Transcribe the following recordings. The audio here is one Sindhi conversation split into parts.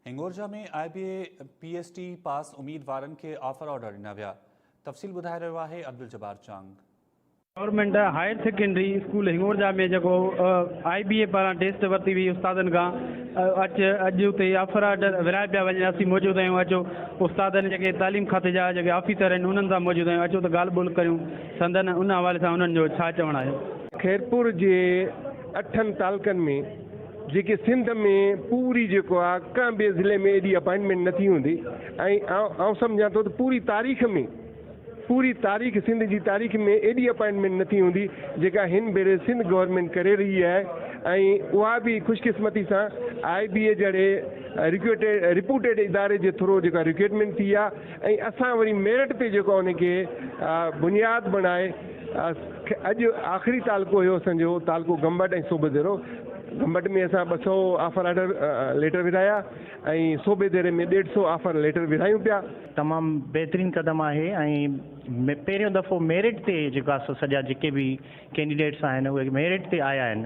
Hingorja ۾ I B A P S T pass اميدوارن کي آفر آرڊر ڏنا ويا، تفصيل ٻڌائي رهيو آهي Abduljabbar Chang. Government higher secondary school Hingorja ۾ جيڪو آء بي اي پاران ٽيسٽ ورتي وئي استادن کان اچ اڄ اتي آفر آرڊر ورهايا پيا وڃن اسين موجود آهيون اچو استادن جيڪي تعليم کاتي جا جيڪي آفيسر آهن انهن سان موجود آهيون اچو ته ڳالهه ٻولهه ڪريون سندن ان حوالي سان انهن جو ڇا چوڻ آهي. خيرپور جي اٺن تعلقن ۾ جيڪي سنڌ ۾ پوري جيڪو آ ڪنهن ٻئي ضلعي ۾ ايڏي اپائنٽمينٽ نه ٿي هوندي ۽ آئون سمجهان ٿو ته پوري تاريخ ۾ پوري تاريخ سنڌ جي تاريخ ۾ ايڏي اپائنٽمينٽ نه ٿي هوندي جيڪا هن ڀيري سنڌ گورنمينٽ ڪري رهي آهي ۽ اها به خوش قسمتي سان آئي بي اي جهڙي رپوٽيڊ اداري جي ٿرو جيڪا رڪوئرمينٽ ٿي آ ۽ اسان وري ميرٽ تي جيڪو ان کي بنياد بڻائي اڄ آخري تعلقو هيو اسان جو تعلقو گمبٽ ۽ صوبه ديرو گمبٽ ۾ اسان ٻه سؤ آفر آرڊر ليٽر ورهايا ۽ صوبه ديري ۾ ڏيڍ سؤ آفر ليٽر ورهايون پيا. تمام بهترين قدم آهي ۽ پهريون دفعو ميرٽ تي جيڪو سڄا جيڪي به ڪينڊيڊيٽس آهن اهي ميرٽ تي آيا آهن.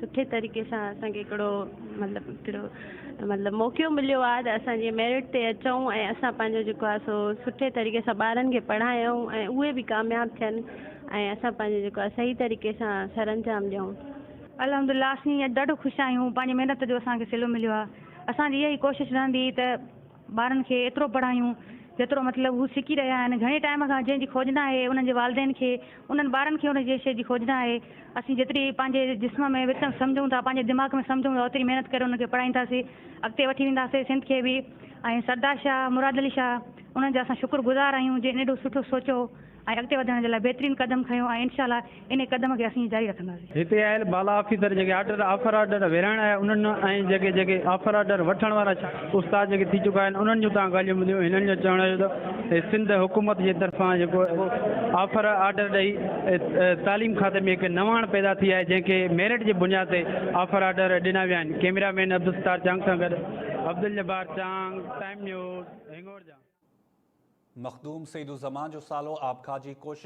سٺي طريقي سان اسان کي هڪڙو مطلب هڪڙو مطلب موقعو مليو آهي ته اسان جي ميرٽ تي اچون ۽ اسان پنهنجو جيڪو آهي سو سٺي طريقي سان ٻارن کي پڙهايون ۽ اهي به ڪامياب ٿين ۽ اسان پنهنجو جيڪو آهي صحيح طريقي سان سر انجام ڏيون الحمد لله اسين اڄ ڏاڍو خوش آهيون پنهنجي محنت جو اسان کي صلو مليو آهي اسان جي اها ئي ڪوشش رهندي ته ٻارن کي ايترو پڙهايون جيترو مطلب هو سکي رهيا آهن. گهڻي ٽائيم کان جنهن جي کوج نه آهي انهن جي والدين کي انهن ٻارن کي ان جي شيء جي کوج نه آهي. اسين جيتري پنهنجي جسم ۾ وٽمنس سمجهون ٿا پنهنجي دماغ ۾ سمجهون ٿا اوتري محنت ڪري انهن کي پڙهائينداسين اڳتي وٺي وينداسين سنڌ کي به ۽ سردار شاهه مراد علي شاهه انهن جا اسان شڪر گذار آهيون جن ايڏو سٺو سوچيو ۽ اڳتي وڌڻ جي لاء بهترين قدم کنيو ۽ انشاء الله انهي قدم کي اسين ائين جاري رکنداسين. هتي آيل بالا آفيسر جيڪي آرڊر آفر آرڊر ورهائڻ آيا انهن ۽ جيڪي جيڪي آفر آرڊر وٺڻ وارا استاد جيڪي ٿي چڪا آهن انهن جون تهان ڳالهيون ٻڌيون هنن جو چوڻ آهي ته سنڌ حڪومت جي طرفان جيڪو آفر آرڊر ڏئي تعليم کاتي ۾ هڪ نواڻ پيدا ٿي آهي جنهن کي ميرٽ جي بنياد تي آفر آرڊر ڏنا ويا آهن ڪيميرا مين عبدالستار چانگ سان گڏ Abdul Jabbar Chang time news Hingorja. Makhdoom Saeed الزمان جو سالو آبکاهه جي ڪوشش